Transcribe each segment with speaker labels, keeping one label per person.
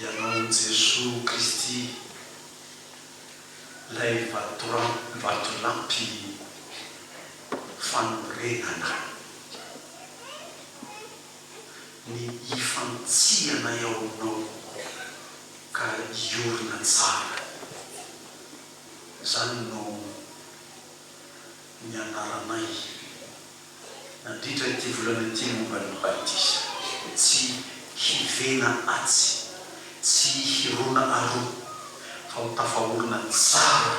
Speaker 1: Ianao Jesoa Kristy, Ilay Vatolampy fanorenana, ny hifantsihanay ao Aminao ka hiorina tsara. Izany no ny anaranay. nandritra ity volana ity momba ny batisa, tsy hivena atsy, tsy hirona aroa, fa ho tafaorina tsara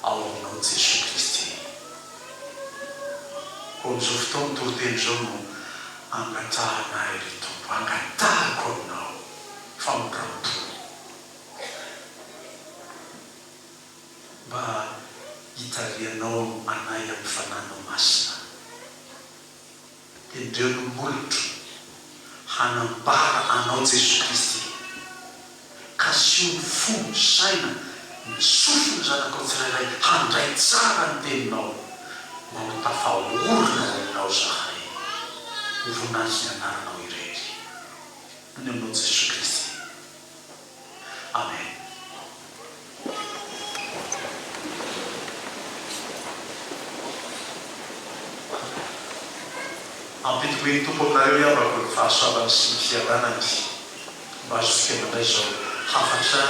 Speaker 1: ao aminao Jesoa Kristy. Koa amin'izao fotoana toriteny izao no angatrahanay ry Tompo, angatahiko Aminao famindram-po. mba hitarihanao anay amin'ny Fananao Masina. Tendreo ny molotro hanambara Anao Jesosy Kristy. Kasio ny fo, saina, ny sofin'ny zanakao tsirairay handray tsara ny Teninao, mba ho tafaorina ho Anao izahay. Ho voninahitry ny Anaranao irery. Amin'ny Anao Jesosy Kristy. Amen. Ampidiko eny Tompo aminareo ny havako ny fahasoavany sy ny fiadanany mba azontsika mandray izao hafatra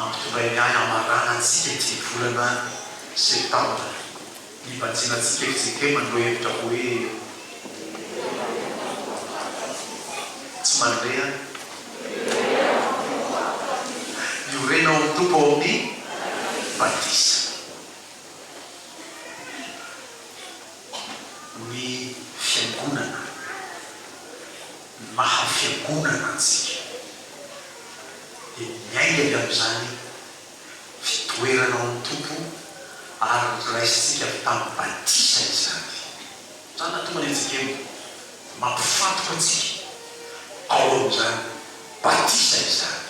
Speaker 1: ampitondrainy ahy hamarana antsika ity volana septambra. Ivatsiana tsikefitsikey mandoa hevitra hoe tsy mandre an. Iorena ho Tompo ao amin'ny batisa. Ny Fiangonana, ny maha Fiangonana antsika dia miainga avy amin'izany. fitoerana ao amin'ny Tompo ary noraisintsika avy tamin'ny batisa izany. Izany no tonga ny anjekemo, mampifantoka antsika ao amin'izany batisa izany.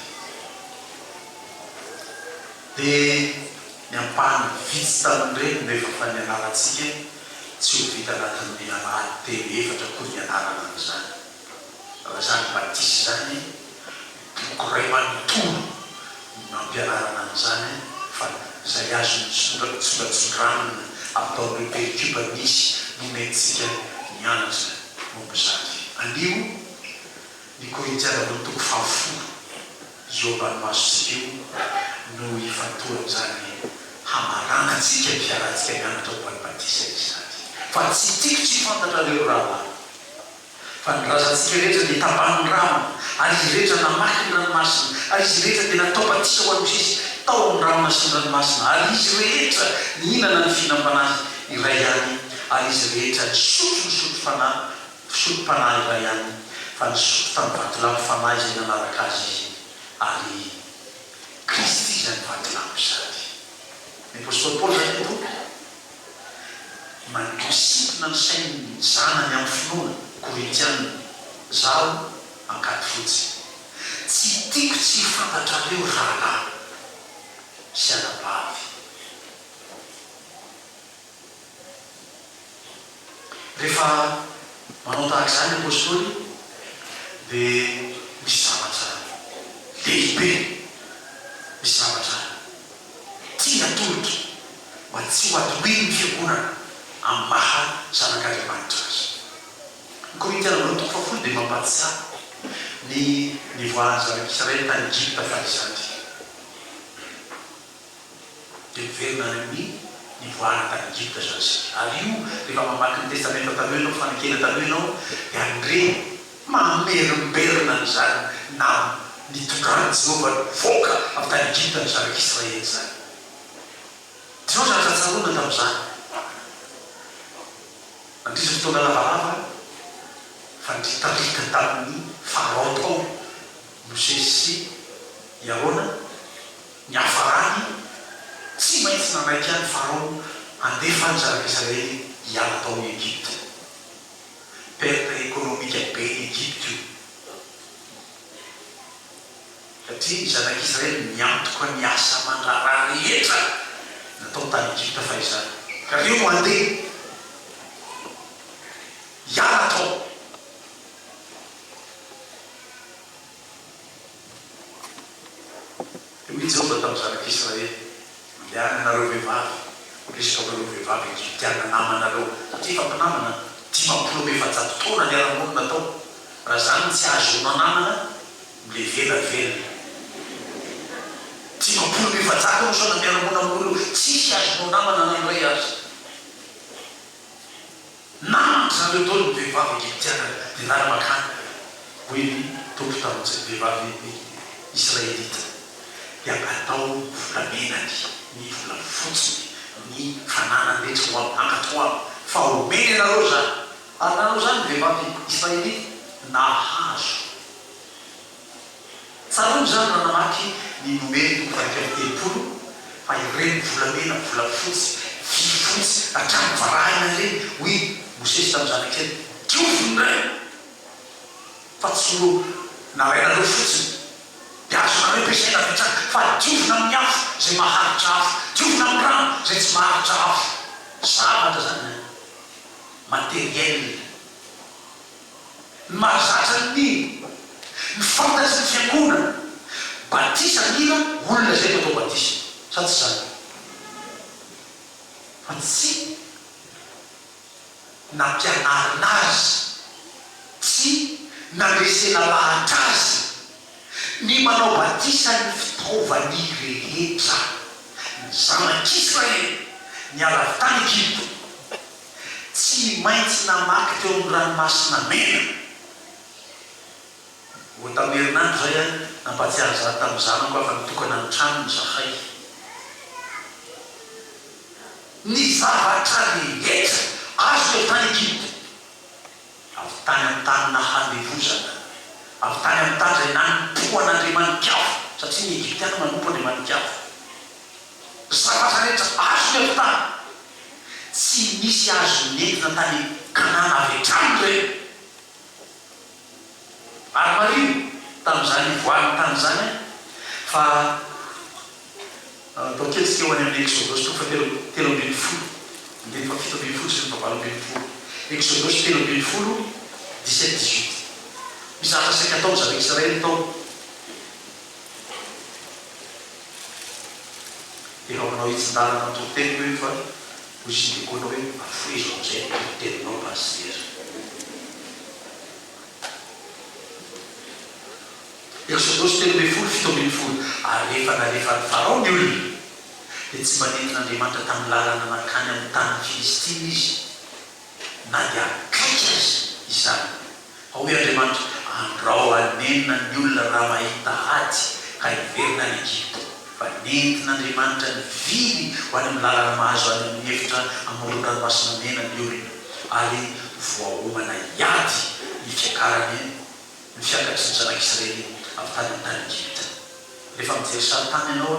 Speaker 1: Dia ny ampahany vitsy tamin'ireny no efa efa nianarantsika, tsy ho vita anatin'ny alahady telo efatra akory ny ianarana an'izany. Raha izany batisa izany dia gré manontolo no nampianarana an'izany fa izay azon'ny songatsongatsondranona ataon'ireo pericube misy nomentsika nianatra momba izany. Anio, ny Korintiana roa toko fahafolo eo ambany masontsika eo no ifantohan'izany hamaranantsika ny fiarahantsika nianatra momba ny batisa izany. Fa tsy tiako tsy fantatrareo ry rahalahy. Fa nilazantsika rehetra dia tapahin'ny rano, ary izy rehetra namaky ny ranomasina, ary izy rehetra dia natao batisa ho an'ny Kristy tao amin'ny rano nasian'ny ranomasina, ary izy rehetra nihinana ny fihinam-panahy iray ihany, ary izy rehetra nisotro ny sotro-fanahy, fisotrom-panahy iray ihany, fa nisotro tamin'ny vatolampy fanahy izay nanaraka azy izy, ary Kristy izany vatolampy izany. Ny apostoly Paoly izany no tompony. Mangisina ny sain'ny zanany amin'ny finoana, Korintiana, zaho angady fotsy. Tsy tiako tsy ho fantatrareo rahalahy sy anabavy. Rehefa manao tahaka izany ny apostoly dia misy zavatra lehibe, misy zavatra tiany atolotra. mba tsy ho atohelin'ny fiangonana amin'ny maha zanak'Andriamanitra azy. Ny Korintiana voalohany toko fahafolo dia mampatisaha ny nivoahan'ny zanak'Israely tany Egypta fa izany dia miverina any amin'ny nivoahana tany Egypta izany isika. Ary io rehefa mamaky ny Testamenta Taloha ianao, Fanekena Taloha ianao dia handre mamerimberina an'izany naha nitondran'i Jehovah nivoaka avy tany Egypta ny zanak'Israely izany. Izao zavatra tsaroana tamin'izany, Nandritra ny taona lavalava fandritarita tamin'ny faharaotao, Mosesy sy i Arona niafarany, tsy maintsy nanaiky an'i Farao handefa ny zanaka Israely hiala tao Egypta. Perte économique be ny Egypta io. Satria ny Zanak' Israely miantoka ny asa aman-draharaha rehetra natao tany Egypta fahizany, ka reo no handeha hiala tao. Dia hoy i Jehovah tamin'ny Zanak' Israely, Mandehana ianareo vehivavy, miresaka amin' ireo vehivavy egyptiana namanareo, satria efa mpinamana dimampolo amby efajato taona niara-monina tao, raha izany no tsy ahazoanao namana, Mbe vela velona. Dimy ambin'ny folo efajato no saona miara-monina amin'olo tsisy azonao namana na iray aza. Namako zareo daholo ny vehivavy Egyptiana dia lany makany, hoy ny Tompo tamin'izay vehivavy Israelita, dia atao volamena ny ny volafotsiny, ny fananany rehetra ho amin'ny hankatoavam, fa homeny anareo izany. Ary nanao izany ny vehivavy Israelita, nahazo. Tsaroana izany raha namaky ny Noely toko fahaefatra amby telopolo fa ireny volamena, volafotsy, vy fotsy hatrany varahina ireny, hoy Mosesy tamin'ny zanak'Ely, diovy ny rainy fa tsy ho narainareo fotsiny, dia azonareo ampiasaina avy hatrany, fa diovina amin'ny afo izay maharitra afo, diovina amin'ny rano izay tsy maharitra afo. Zavatra izany an! Matériel. Ny mahazatra ny mino, ny fantatry ny fiangonana, batisa mila olona izay efa atao batisa, sa tsy izany? Fa tsy nampianarina azy, tsy nandresena lahatra azy ny manao batisa ny fitaovany rehetra, ny zanak'Israely niala avy tany Egypta. tsy maintsy namaky teo amin'ny Ranomasina Mena. Vao tamin'ny herinandro izay aho nampahatsiahy izany tamin'ny zanako afa nitokana ny tranony izahay. Ny zavatra rehetra azo efa nigidina. Avy tany amin'ny tany nahandevozana, avy tany amin'ny tany izay nanompoan' andriamani-kafa, satria ny Egyptiana manompo andriamani-kafa, ny zavatra rehetra azony avy tany. Tsy nisy azo nentina tany Kanana avy hatrany ireny. Ary mariho tamin'izany ivoahan'ny tany izany fa. Atao kely seho any amin'ny Eksodosy toko fahatelo telo ambin'ny folo, andininy fahafito ambin'ny folo sy ny fahavalo ambin'ny folo, Eksodosy telo ambin'ny folo, dix sept, dix huit. Misy zavatra saika ataon-dry zareo Israely tao. Dia efa manao hitsin-dalana ny toriteninao io fa hoy izy ny diakonina hoe, Afoizo amin'izay ny toriteninao Pasitera. Eksodosy telo ambin'ny folo, fito ambin'ny folo Ary rehefa nalefan'i Farao ny olona, dia tsy mba nentin'Andriamanitra tamin'ny lalana nankany amin'ny tanin'ny Filistina izy, na dia akaiky aza izany. Fa hoy Andriamanitra, Andrao hanenina ny olona raha mahita ady, ka hiverina any Egypta. Fa nentin'Andriamanitra nivily ho any amin'ny lalana mahazo any amin'ny efitra amoron'ny Ranomasina Mena ny olona, ary voaomana hiady ny fiakaran'ny. ny fiangatry ny zanak'i Israely avy tany amin'ny tany Egypta. Rehefa mijery sarintany ianao,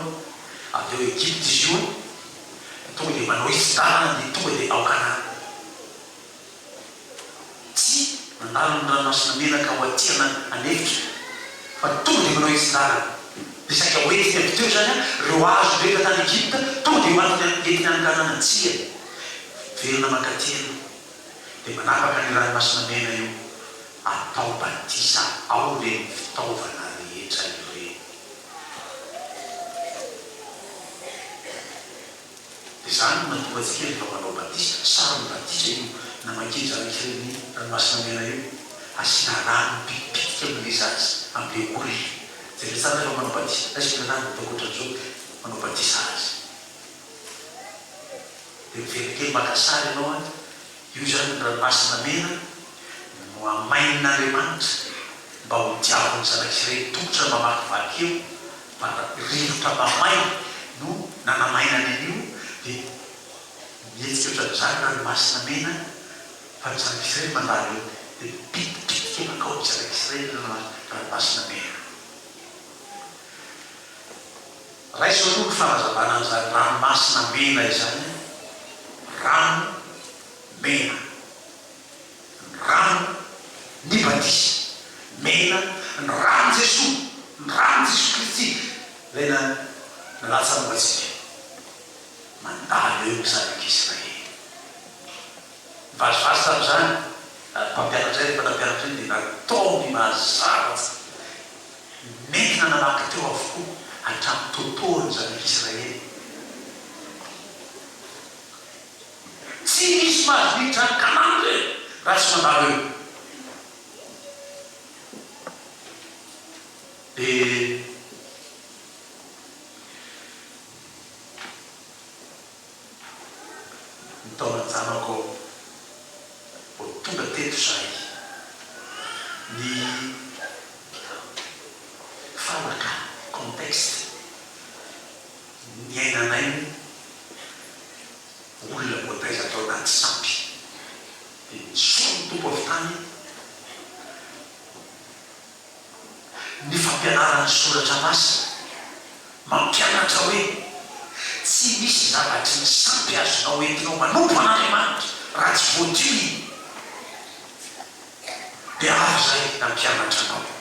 Speaker 1: avy ao Egypta izy io, tonga dia manao izy tanana dia tonga dia ao Kanana. Tsy nandalo ny Ranomasina Mena ka ho aty an'efitra, fa tonga dia manao izy tanana. Dia saika hoentiny avy teo izany ireo hazo rehetra tany Egypta, tonga dia hoentiny entiny any Kanana. Tsia, miverina mankaty ianao, dia manapaka ny Ranomasina Mena io. Atao batisa ao ireny fitaovana rehetra ireny. Dia izany no mahatonga antsika rehefa manao batisa, saron'ny batisa io, na makija an'ireny Ranomasina Mena io, asiana rano mipitipitika amin'ilay zaza amin'ilay koriana. Jereo tsara rehefa manao batisa, na izay fianarana atao ankoatran'izao dia manao batisa azy. Dia miveritery maka sary ianao an. Io izany ny ranomasina mena nohamainin'Andriamanitra mba ho diavin'ny zanak'ireny tongotra mamakivaky eo, fa rivotra mamay no nanamainany an'io, dia mihetsika ohatran'izany ny ranomasina mena fa ny zanak'israely mandalo eo, dia mipitipitika mankao ny zanak'israely ny ranomasina mena. Raiso aloha ny fanazavana an'izany ranomasina mena izany an! Rano mena. Ny rano ny batisa. Mena ny ran'i Jesoa. Ny ran'i Jesoa Kristy ilay nalatsa-momba antsika. Mandalo eo ny zanak'Israely. Vazivazy tamin' izany ary mpampianatra iny mpanao mpianatra iny dia nataony mazava fa nentina namaky teo avokoa hatramin'ny totohony ny Zanak' Isiraely. Tsy misy mahazo miditra any Kanana re raha tsy mandalo eo. Dia. ny taolan-janako aho vao tonga teto izay. Ny fanaka, contexte, niainanay moa olona voataiza tao anaty sampy dia ny soa ny Tompo avy tany. Ny fampianarana ny Soratra Masina mampianatra hoe tsy misy zavatry ny sampy azonao entinao manompo an'Andriamanitra raha tsy voadio iny. Dia avy izay nampianatra anao.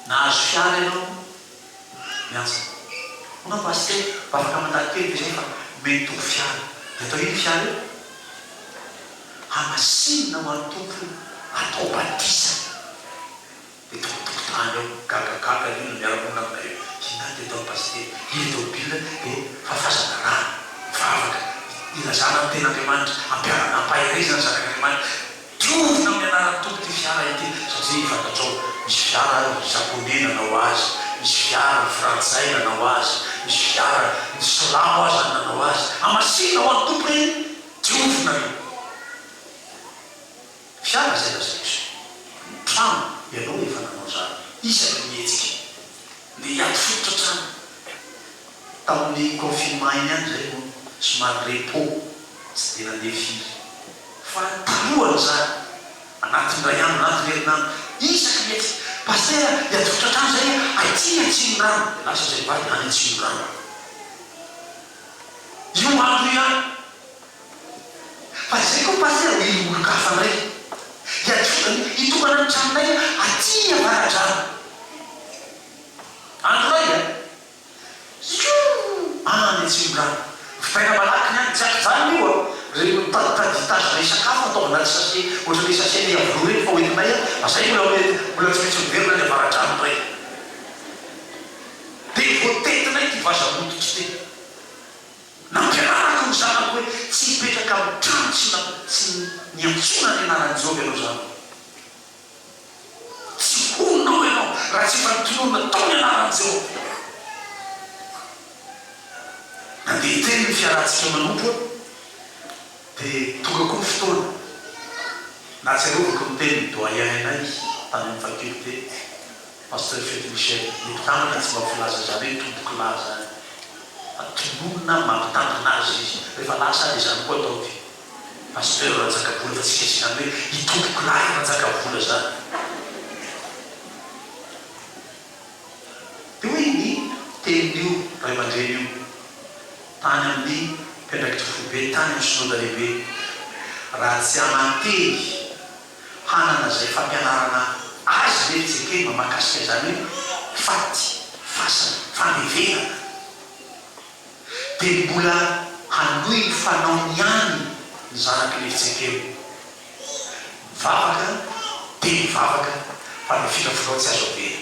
Speaker 1: Nahazo fiara ianao miasa. Hono Pasitera, mba afaka mandalo kely ve zay fa omeny Tompo fiara. De atao ino io fiara io? Hamasinina ho an'ny Tompo io, atao batisa. De tao an-tokotany ao, gagagaga ny olona miara-monina aminay eo. Inona de ataon'i Pasitera? Hely tao Bill de fafazana rano, mivavaka, ilazana ny tenin'Andriamanitra, ampiharana ampaherezana ny zanak'Andriamanitra. Trovy nanao ny anaran'ny Tompo ity fiara ity satria fantatrao misy fiara ny Japonais nanao azy, misy fiara ny Frantsay nanao azy, misy fiara ny Silamo aza nanao azy. Hamasina ho an'ny Tompo re io. Trovy nareo. Fiara izay lazain'i Jesoa. Ny trano ianao no efa nanao izany. Iza no mihetsika? Ny hiato fototra hatrany tamin'ny confinement iny ihany izay no somary repos, tsy dia nandeha firy. Fa ny talohan'izany, anatin'ny iray andro, anatin'ny herinandro, isaky ny ety, Pasitera a, hiato fototra hatrany izay a, aty ny Atsimondrano, dia lasa izay mivady any Atsimondrano any. Io andro io ihany. Fa izay koa Pasitera dia io olon-kafa indray. Iadiovany hitokana ny tranonay aty Avaradrano. Andro iray a! Iooh! Any Atsimondrano. Vitaina malaky ny any. Tsy an-kijanona io a! Ireny mitaditady hitazona hisakafo ataovy anaty sachet, ohatran'ilay sachet an'i Iavoloha ireny fa hoentinay any. Fa izay mbola hoe mbola tsy maintsy miverina any Avaradrano indray. Dia voatetinay ity vaza mody ity. Nampianarako ny zanako hoe tsy hipetraka amin'ny trano tsy tsy niantsoana ny anaran'i Jehovah ianao zanako. Tsy honina ao ianao raha tsy efa notononina tao ny anaran'i Jehovah. Nandeha hiteny ny fiarahantsika manompo aho, dia tonga koa ny fotoana nahatsiarovako ny tenin'ny Doyen-nay tany amin'ny faculté. Pasteur Fety Michel, ny mpitantana tsy mba ho filaza izany hoe tompoko lahy izany fa tononina mampitantana azy izy, rehefa lasa dia izany koa atao dia Pasteur Ranjakabola fa tsy misy izany hoe i tompoko lahy Ranjakabola izany. Dia hoy ny tenin'io ray aman-dreny io tany amin'ny mpiandraikitra foibe tany amin'ny Synoda Lehibe, raha tsy hananteny, hanana izay fampianarana azy ve ry Jekema mahakasika izany hoe faty, fasana, famevenana? Dia mbola hanohy ny fanaony ihany ny zanak'i Levi Jekema. Mivavaka dia mivavaka fa ny firafirao tsy azo avela.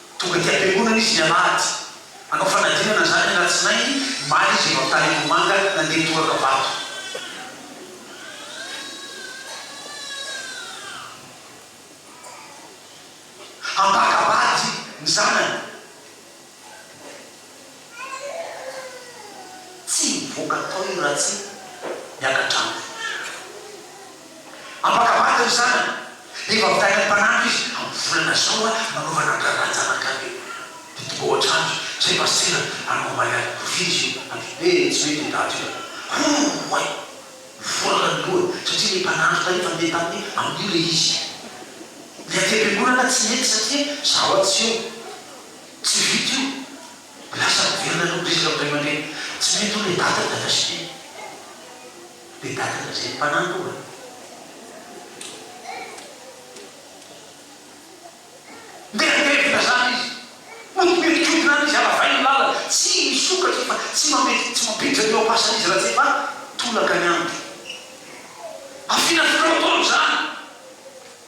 Speaker 1: Tonga aty am-piangonana izy ny alahady. Nanao fanadinana izany ny alatsinainy, omaly izy avy Antanimbohimanga nandeha Torakabato. Hampaka-bady ny zanany. Tsy mivoaka tao i Ratsy miaka-drano. Ampakavahana ry zanany, efa avy tany am-panantra izy, amin'ny volana izao aho nanaovana an-draharaha an-janakay hoe dia tonga ao an-trano izy, izay mba sendra hanao omaly any Kovia izy io, ady hoe tsy mety io daty io e! Hooay! Mivoraka ny lohany, satria ilay mpanandro tany efa ndeha taminy amin'io ilay izy. Ny aty am-piangonana tsy mety satria izaho aho tsy eo. Tsy vita io. Lasa averina aloha resaka amin'ny ray aman-dreny. Tsy mety io le dada dada sy le le dada dada izay mpanahy koa e. Mieritreritra zany izy. Odimerikodina any izy aravainy ny lalana. Tsy misokatra io fa tsy mametra tsy mampiditra ny oa-pasany izy raha tsy efa tolaka ny andro. Afinafinaovy daholo izany.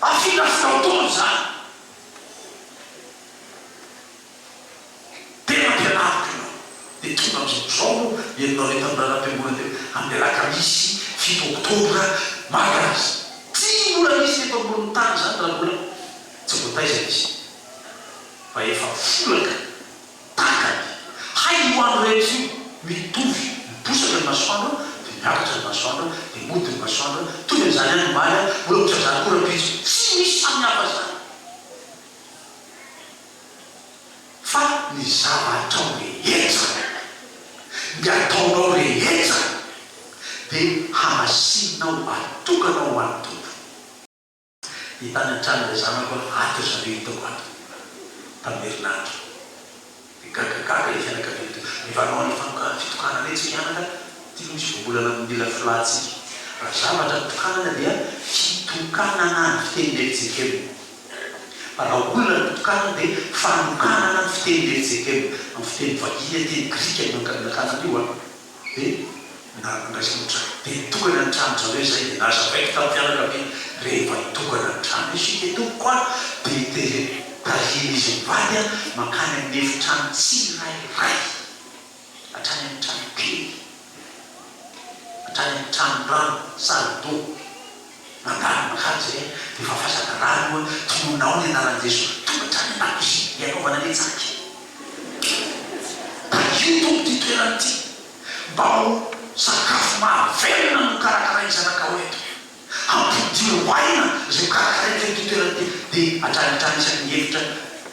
Speaker 1: Afrika amin'izao tontolo izany tena ampianariko ianao dia tonga amin'izao tontolo izao no henonao ilay mpanoratra mpiangoana teo amin'ny alakamisy fito oktobra malaza. Tsy mbola nisy teto ambonin'ny tany izany raha mbola tsy voataiza izy fa efa folaka. Takany, hay ho an'ny rehetra io, mitovy, miposaka ny masoandro dia miakatra ny masoandro dia mody ny masoandro, mitovy amin'izany ihany omaly, mbola ohatran'ny izany koa rahampitso, tsy misy samihafa izany fa ny zavatrao rehetra, ny ataonao rehetra dia hamasinina ho atokanao ho an'ny Tompo. Ny tany an-tranon'ilay zanako an, ato ry zareo hitako ato tamin'ny herinandro. Dia gaga gaga ilay fianakaviana teo. Mivaroha an'ilay fanokanan'ny fitokanana etsy ny anaka, ity moa tsy voambolana amin'ny mila folahantsika. Raha zavatra ny tokanana dia fitokanana ny fitenin'i Erzekema, fa raha olona ny tokanana dia fanokanana ny fitenin'i Erzekema, amin'ny fiteny vahiny aty, ny grika no nankany an'io an. Dia niaraka niraisan'ny trano. Dia nitokana ny trano zareo izay dia nazavaiko tamin'ny fianakaviana rehefa hitokana ny trano isika tompoko a! Dia te tarihin'izy mivady aho mankany amin'ny efitrano tsirairay, hatrany amin'ny trano kely, hatrany amin'ny tranon-drano, salle d'eau. Mandalo aman-kaja izay a! Dia efa vazadraharaha aloha a! Tsy monina ao ny anaran'i Jesoa! Tonga hatrany an-dakozia hianaovana ny hetsika! Takio Tompo ity toerana ity mba ho sakafo mahavelona no hokarakarain'ny zanakao eto. Hampidiro aina izay hokarakaraiko eto ity toerana ity. Dia hatrany hatrany isaky ny efitra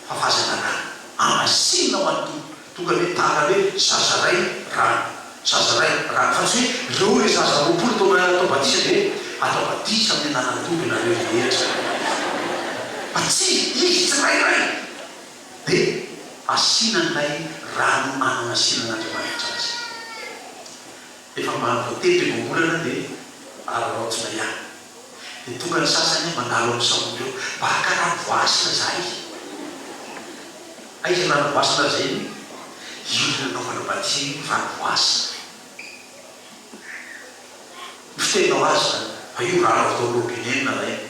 Speaker 1: fa vazadraharaha. Hamasinina ho an'ny Tompo. Tonga dia tara hoe zaza iray rano, zaza iray rano, fa tsy hoe ireo ilay zaza roapolo taona atao batisa dia hoe atao batisa amin'ny anaran'ny Tompo ianareo rehetra. Fa tsia, izy tsirairay dia asiana an'ilay rano an'anasinan'Andriamanitra azy. Rehefa ambany voatendry ny voambolana dia araraotina ihany. Dia tonga ny sasany mandalo amin'ny saboto eo. Mba hakarary voasana izahay. Aiza ny rano voasana ary izay no ilo nanaovana batterie io rano voasana io. Ny fiteninao azy izany fa io rano avy tao amin'ny robinet no nalaina.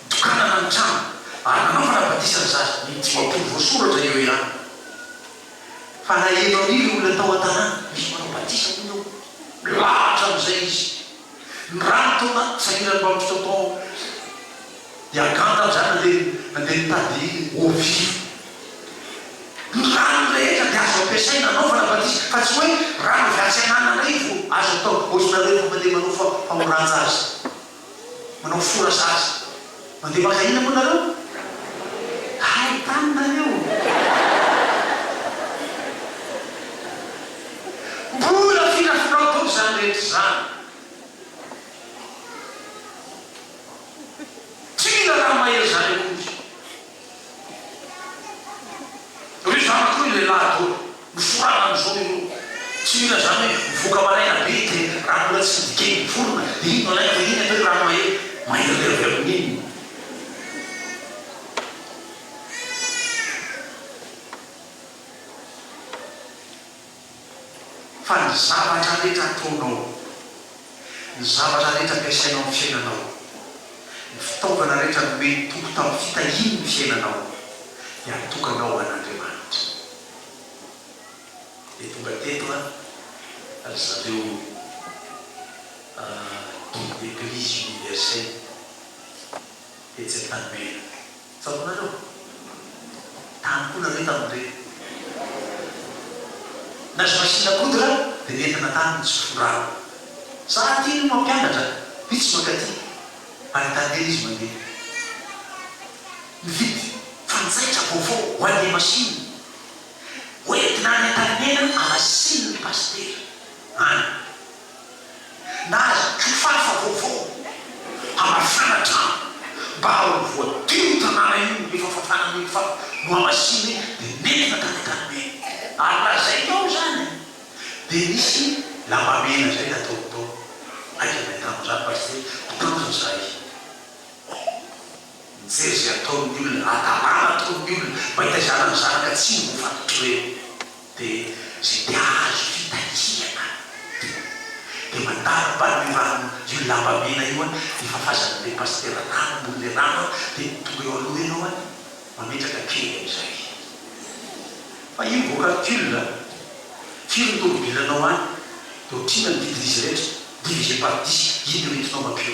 Speaker 1: Tokanana ny trano ary nanaovana batisa ny zaza. Ny dimampolo voasoratra eo ihany fa naheno an' ireo olona tao an-tanàna fa misy manao batisa hono eo. Milahatra amin'izay izy. Ny rano tao anaty sahiran'ny baoritra tao Yaghan tamin'izany nandeha nandeha nitady eau vive. Ny rano rehetra dia azo ampiasaina hanaovana batisa fa tsy hoe rano avy atsy anana indray vao azo atao. Hoatry ny nareo efa mandeha manao fa famorantsa azy. manao fora zaza. Mandeha maka ina moa nareo? Hay tany nareo! Mbola firafirao doby zany rehetra zany. Tsy mila raha mahery zany akory. Ry zany koa ilay lahy doly noforana an'i zao io tsy mila zany hoe mivoaka maraina be izy dia raha mbola tsy nidikeny ny vorona dia iny no alainy fa iny atao hoe rano mahery mahery be avy amin'iny. Fa ny zavatra rehetra ataonao, ny zavatra rehetra ampiasainao amin'ny fiainanao, ny fitaovana rehetra nomen'ny Tompo tamin'ny fitahiany ny fiainanao, dia atokana ho an'Andriamanitra. Dia tonga teto ry zareo Guide d'Eglise Universelle tetsy Antanimena. Tsapanareo? Tany koa nareo tamin'ny be. Na je machine à coudre dia nentina tany ny tsy forara. Za aty no mampianatra, vitsy mankaty ary tany ela izy mandeha. Mividy fanjaitra vaovao ho an'ilay machine hoentina any Antanimena hamasinina ny pasitera any. na azo kifafa vaovao hamafana trano mba ho voadio io tanàna io rehefa fafana an'iny kifafa nohamasina iny dia nentina tany Antanimena ary lazainy ao izany dia nisy lamba mena izay nataony tao aika ny nahitana an'izany Pasitera mpitandro ny zahay nijery izay ataon'ny olona raha dalàna ataon'ny olona mba hitaizana ny zanaka tsy ho faty trreo. Dia izay te hahazo fitakiana dia dia mandalo bani io rano io lamba mena io an, dia fafazany be pasitera rano ambony le rano an, dia tonga eo aloha ianao an, mametraka kely amizay fa io vao calcul an, firy ny tomobilanao any, dia otrina ny vidin'izy rehetra, divisé par dix, iny no entinao mampio.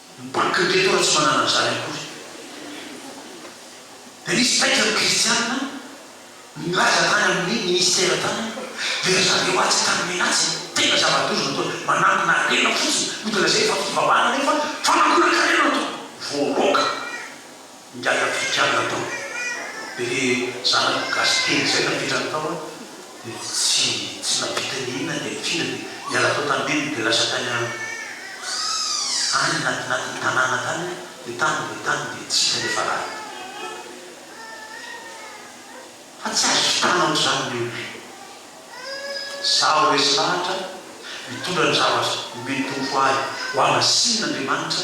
Speaker 1: Ny banky indray aloha tsy manana an'izany akory. Dia nisy taitra ny kristianina nilaza tany amin'ny minisitera tany hoe, dia ry zareo atsy akany menatsy e, tena zava-doza no ataony, manangona harena fotsiny, ho dia lazainy fa fivavahana nefa fanakonan-karena no ataony. Voaroaka. Ingahy Afrikana tao dia le zanako gasy kely zay napetrany tao an dia tsy tsy nampita ny inona ny ahifiana dia niala tao tanimena dia lasa tany an any anatinatiny tanàna tany an dia tany dia tany dia tsy hita ny efa lany fa tsy azo vitana ohatr'izany ny olona. Izaho resy lahatra mitondra ny zavatra omeny Tompo ahy ho avy asin' Andriamanitra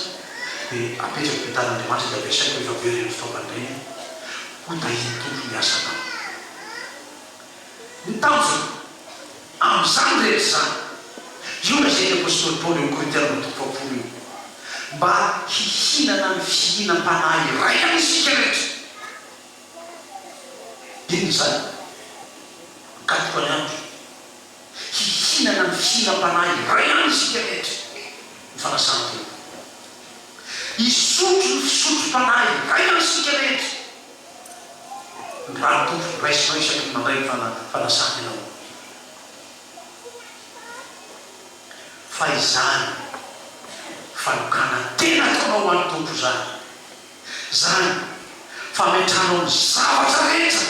Speaker 1: dia apetrako eo an-tanan' Andriamanitra dia ampiasaiko rehefa very ireny fitaovana ireny ho tahin' Tompo ny asan' aho. Ny tanjona amin' izany rehetra izany dia io lazain' ny apostoly Paoly ao Korintiana ambin'ny folo faha-folo io, mba hihinana ny fihinam-panahy iraisana isika rehetra. Dia noho izany, mikatoka ny andro hihinana ny fihinam-panahy iray ihany isika rehetra, ny fanasan-tena. Hisotro ny fisotrom-panahy iray ihany isika rehetra, ny rà-tondro raisinao isaky ny mandray ny fanasan-tena ao amin'ny Tompo. Fa izany fanokanan-tena ataonao ho an'ny Tompo izany. Izany fametrahanao ny zavatra rehetra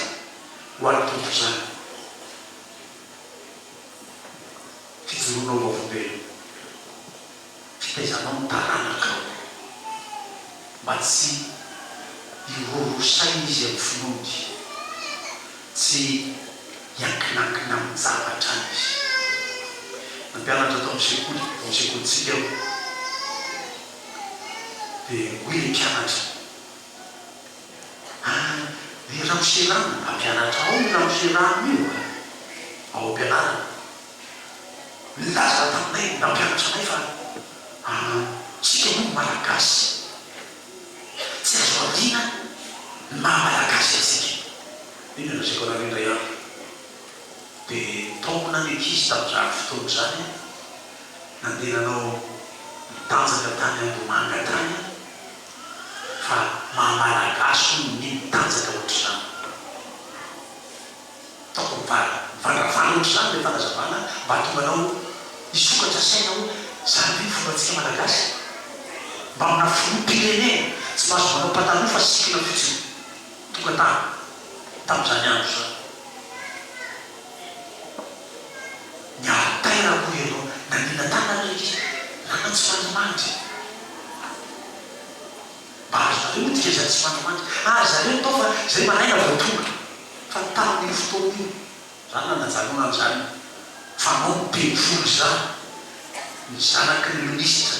Speaker 1: ho an'ny Tompo izany, fijoroanao ho olombelona, fitaizanao ny taranakao mba tsy hirorosaina izy amin'ny finoany, tsy hiankinakina amin-javatra any izy. Nampianatra tao amin'ny sekoly, tao amin'ny sekolintsika aho. Dia hoy ilay mpianatra, Ary ny ramose rano? Hampianatra ao io ramose rano io ao am-pianarana. Nilaza taminay ny mpampianatra anay fa isika moa ny Malagasy, tsy azo adina ny maha-Malagasy antsika. Inona no lazaiko anareo indray andro? dia nitaomina ny ankizy tamin'izany fotoana izany aho. Nandeha nanao mitanjaka tany Ambohimanga tany aho. Fa maha Malagasy hono ny mitanjaka ohatr'izany. Ataoko mivandravandra ohatr'izany ilay fanazavana mba hahatonga anao hisokatra saina hoe izany ve no fombantsika Malagasy e? Mba amina filoham-pirenena tsy mahazo manao pataloha fa sikina fotsiny. Tonga tany, tamin'izany andro izany, ny altera, hoy ianao. Nanina tanana ilay ankizy. Nama tsy mandimandry. Mba azonareo io dikany izany tsy mandimandry. Ary zareo atao fa izay maraina vao tonga. Fa tamin'io fotoana io, izany no nanajanona an'izany fanao ny teny folo izany, ny zanaky ny minisitra.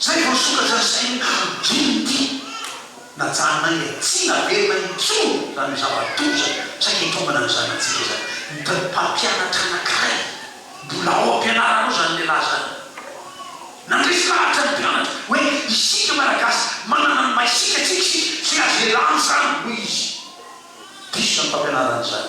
Speaker 1: Zay vao sokatra sy teny ankapobeny ity najanay e! Tsy naverina intsony zany hoe zava-doza saika itombana ny zanatsika izany. Ny mpampianatra anankiray mbola ao am-pianarana ao zany lehilahy zany nandresy lahatra ny mpianatra hoe isika Malagasy manana ny maisika tsika isika tsy azo ialana zany hoy izy. Diso zany mpampianarana zany.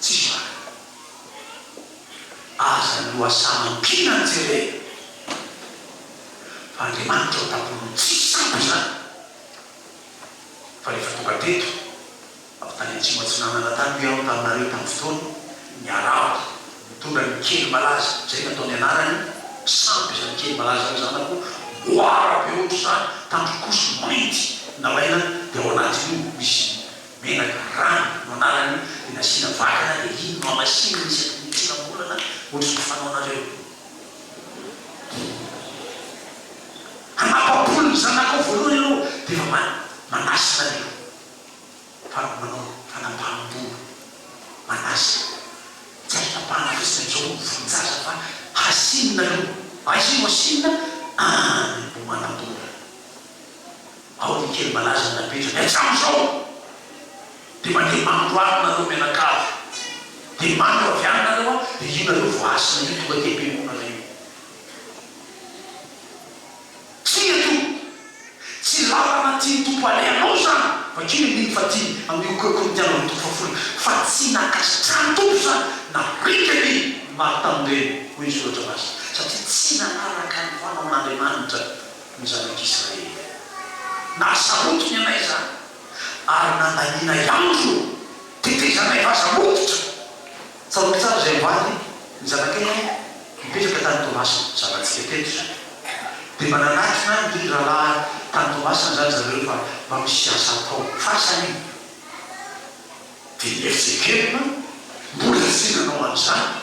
Speaker 1: Tsy zany. Aza lohasaha mampihina ny jerena fa Andriamanitra ao tampony tsy sampy izany fa rehefa tonga teto avy tany Atsimo Atsinanana tany hoy aho taminareo tamin'ny fotoana niarahako nitondra ny kely malaza izay no ataony anarany sampy izany kely malaza hoe zanako moara be ohatr'izany tandrok'osy mainty nalaina dia ao anatin'io misy Menaka, rano, no anarany dia nasiana vakana dia iny no hamasinina isaky ny tsirambolana ohatry ny fanaonareo. Hanapa-bolo ny zanakao voalohany ianao dia efa manasa ny manao fanapaham-bolo, manasa. Tsy azo tapahana fotsiny amin'izao ny volon-jaza fa hasinina aloha. Aiza io hasinina? Any ambohimanabolana. Ao ny kely malaza napetrany hatramin'izao dia mandeha andro alina nareo mianakavy dia mandro avy any nareo an dia io nareo vao hasina io tonga aty am-piangonana io tsia io tsy lalana tian'ny Tompo alehanao izany fa kely amin'iny fa tiany amin'io Korintiana roa toko fahafolony fa tsy nankasitrahan'ny Tompo izany na rika ny maro tamin'ireny hoy ny soratra masina satria tsy nanaraka ny fanaon'Andriamanitra ny zanak'Israely. Nahasarotiny anay izany, ary nandanianay andro tetezanay vaza hoditra. Tsaroako tsara izay omaly, ny zanakay an, nipetraka tany Toamasina, zanatsika teto izany. Dia mba nanatona an ry rahalahy tany Toamasina izany zareo fa mba misy asa atao. Farsa io. Dia ny FJKM mbola tsy nanao an'izany.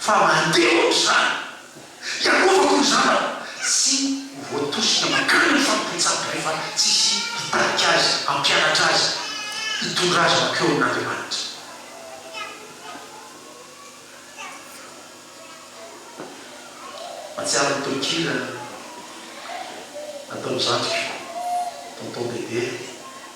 Speaker 1: Fa mandeha ohatra izany. Iarovako ny zanako tsy ho voatosika mankany amin'ny fampibontsampy rehefa tsisy hitarika azy, hampianatra azy, hitondra azy mankeo amin'Andriamanitra. Mahatsiaro ny tononkira nataon'ny zandriko, Tonton Bebe.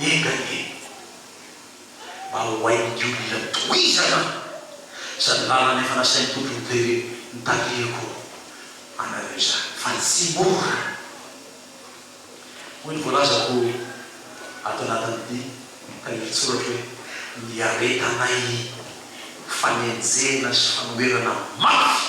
Speaker 1: Enga anie mba ho hain'ny olona tohizana izany lalana efa nasain'ny Tompo nijery ny tarihiko anareo izany fa tsy mora. Hoy ny voalazako ato anatin'ny dihy ka iritsoratro hoe, Niaretanay fanenjehana sy fanoherana mafy.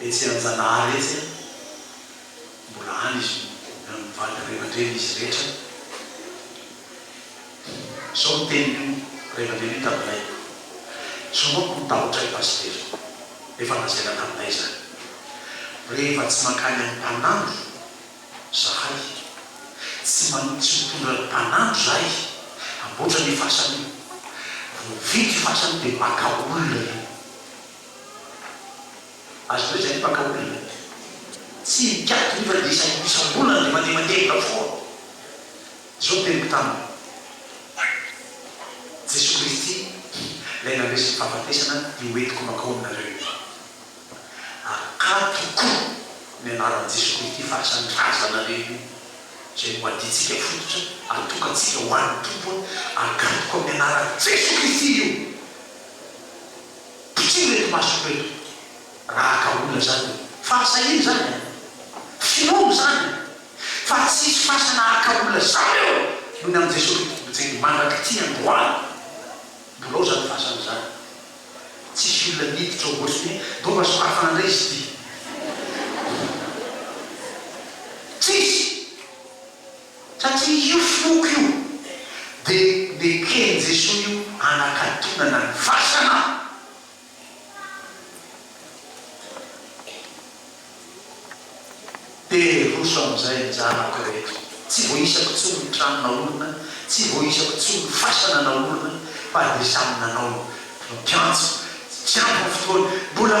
Speaker 1: Betsianjanahary etsy a, mbola any izy io, eo amin'ny vady ray aman-dreny izy rehetra. Izao ny tenin'io ray aman-dreny io taminay, Izao manko no tahotra ahy Pasitera, efa lazaina taminay izany, rehefa tsy mankany amin'ny mpanandro izahay, tsy manohy tsy mitondra ny mpanandro izahay hamboatra ny fasana io, vao vita io fasana io dia maka olona io. Azo atao izay ny mpankahoriana. Tsy mikatona io fa dia isam isam-bolana dia mandeha mandevona foana. Izao no teniko taminy, Jesoa Kristy Ilay nandresy ny fahafatesana dia hoentiko mankao aminareo io. Akatoko ny anaran'i Jesoa Kristy fahasan'ny razanareo io izay no adintsika fototra atokantsika ho an'ny Tompo hoe, Akatoko amin'ny anaran'i Jesoa Kristy io. Ity ireto masoko ireto raha ka olona zany hoe fahasahiana zany an! Finoana zany an! Fa tsisy fasana haka olona zany eo noho ny an'i Jesoa Kristy Tompontsika mandrak'ity androany! Mbola ao zany fasana zany! Tsisy olona miditra ao ohatry ny hoe donga sorafana ndray izy ity! Tsisy! Satria io foko io dia neken'i Jesoa io hanakatonana ny fasana. Dia roso amin'izay ny zanako rehetra. Tsy voaisako intsony ny trano naorina, tsy voaisako intsony ny fasana naorina, fa dia samy nanao ny mpiantso. Tsy ampy ny fotoana. Mbola.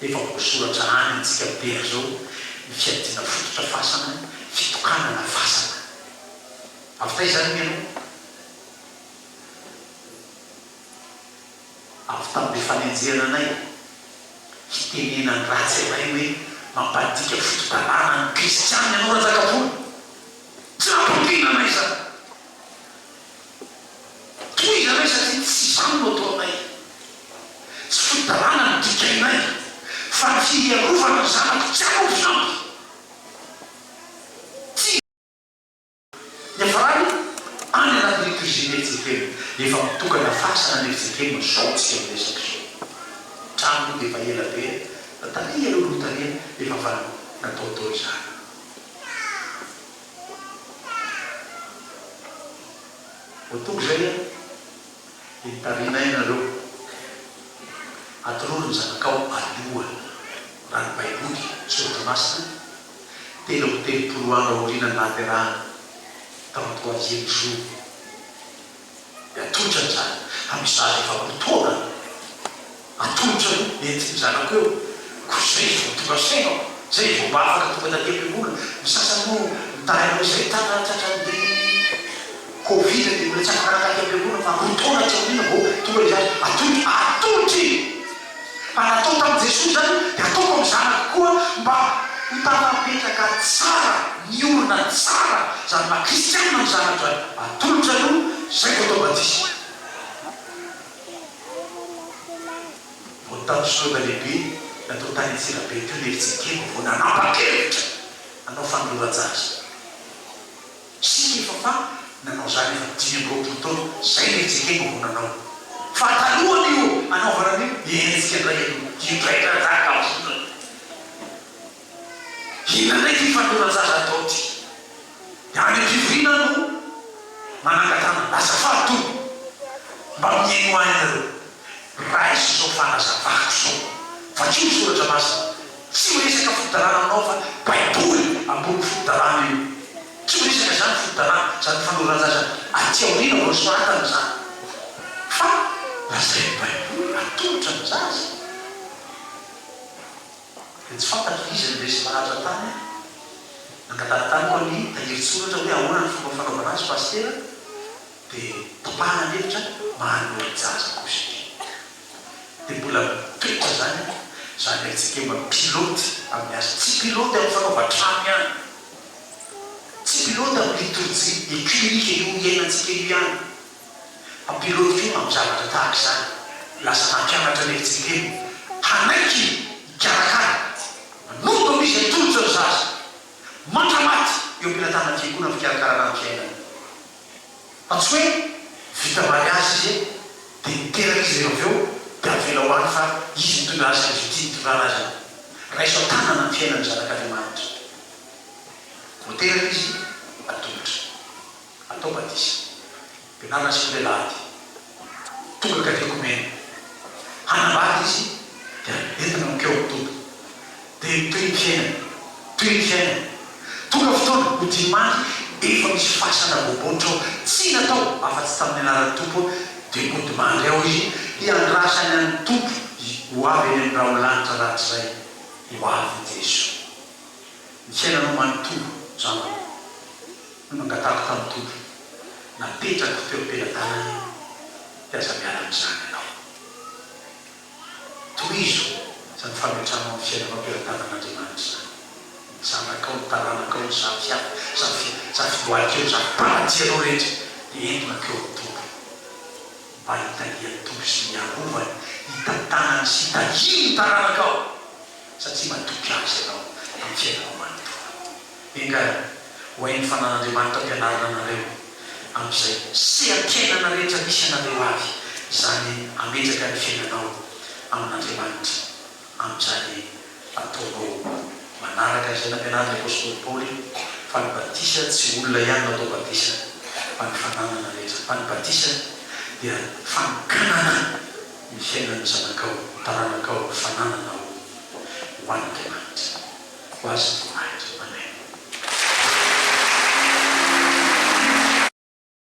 Speaker 1: Efa voasoratra any amintsika be azao ny fiadiana fototra fasana, fitokanana fasana. Avy taiza ary hoy ianao? Avy tamin'ilay fanenjehana anay hitenena ny ratsy iray hoe mampandika foto-dalàna ny kristiana ianao Ranjakapoly. Tsy nampaniriana anay izany. Tohizo ianareo satria tsy izany no ataonay. Tsy fitondranana no dikainay fa ny hiarovana ny zanako tsy ampy ny ampy. Tsy. Niafarany any anatin'ny cuisine i Jekem. Efa mitokana fasana anie ry Jekem izao tsika miresaka izao. Ny trano moa dia efa ela be na taria aloha ny notaniana efa fa nataotao izany. Voatoky izay an! Dia mitarina aina ireo. Atorory ny zanakao aloha, raha ny Baiboly, Soratra Masina, telo amby telopolo andro aoriana ny nahaterahany, trente troisième jour. Dia atolotra ny zanako. Amin'ny sary efa ho taona atolotra aloha nentin'ny zanako eo. Koa izay vao tonga saina aho. Izay vao mba afaka tonga taty am-piangonana. Ny sasany moa nitahy anao izay tana tratran'ny covid dia mbola tsy afaka naka aty am-piangonana fa roa taona aty aoriana vao tonga izy ato. Atolotra! Atolotra i! Fa raha atao tamin'i Jesoa izany, dia ataoko amin'ny Zanako koa mba ho tanapetraka tsara, miorina tsara, izany maha kristiana amin'ny Zanako izany. Atolotra aloha, izay vao atao batisa. Vao tamin'ny Synôda Lehibe natao tany Antsirabe teo ny efijery kely vao nanapa-kevitra hanao fanoloran-jaza. Isika efa fa nanao izany efa dimy amby roapolo taona izay ilay Jekego vao nanao. Fa talohan'io anaovana an'io dia hetsika indray aloha dia draidradradra volana. Inona indray ity fanoloran-jaza atao ity? Dia any am-pivoriana aho no manangan-tanana. Azafady o! Mba mihainoa ahy ianareo. Raiso izao fanazavako izao. Vakio ny soratra masina. Tsy miresaka fodalana aminao fa baiboly ambony fodalana io. Tsy miresaka izany ny fodalana, izany fanoran-jaza aty aoriana vao nosoratana izany. Fa lazain'ny baiboly atolotra ny zaza. Dia tsy fantatro iza no resy maratra tany an. Nangatara tany koa ny tahirin-tsoratra hoe ahoana ny fomba fanaovana azy pasitera. Dia topahana ny hevitra mba hanori-jaza gauche be. Dia mbola mipetra izany izany haitsika mba pilote amin'ny asa. Tsy pilote amin'ny fanaovan-trano ihany, tsy pilote amin'ny liturgie œcumenique io iainantsika io ihany, fa pilote koa amin'ny zavatra tahaka izany. Lasa nampianatra ny FJKM hanaiky hikarakara, manompo amin'izy atolotra ny zaza mandra-maty eo am-pelatanan'ny Fiangonana ny fikarakarana ny fiainana. Fa tsy hoe vita mariazy izy e, dia niteraka izy rehefa avy eo dia avela ho any fa izy nitondra azy ka dia tiany hitondrana azy e. Raiso an-tanana ny fiainan'ny zanak'Andriamanitra. Vao teraka izy, atolotra. Atao batisa. Ampianarina asikola ilay ady. Tonga ka tiako omena. Hanambady izy dia entina mankeo amin'ny Tompo. Dia toy ny fiainana, toy ny fiainana. Tonga fotoana ho dimy andro efa misy fasana bobonitra ao, tsy natao afa-tsy tamin'ny anaran'ny Tompo aho, dia hody mandry ao izy hiandrasany an'ny Tompo ho avy eny amin'ny rahon'ny lanitra rahatrizay. Ho avy i Jeso. Ny fiainanao manontolo izao no nangatahako tamin'ny Tompo, napetrako teo am-pelatanany dia aza miala amin'izany ianao. Tohizo izany fametranao ny fiainanao teo an-tanan'Andriamanitra izany, ny zanakao, ny taranakao, ny zafiafy, zafy zafiboahikeo, zafim-panajsianao rehetra dia entona teo amin'ny Tompo mba hitalian'ny Tompo sy hiarovany, hitantanany sy hitahiany ny taranakao. satria matoky Azy ianao amin'ny fiainanao manontolo. Engahy, ho hain'ny Fanan'Andriamanitra ampianarina anareo amin'izay seha-piainana rehetra misy anareo avy izany hametraka ny fiainanao amin'Andriamanitra amin'izany ataonao manaraka izay nampianarin'ny Apostoly Paoly fa ny batisa tsy olona ihany no atao batisa fa ny fananana rehetra, fa ny batisa dia fanokanana. ny fiainan'ny zanakao, taranakao, fanananao ho an'Andriamanitra, ho Azy ny voninahitra. Amen.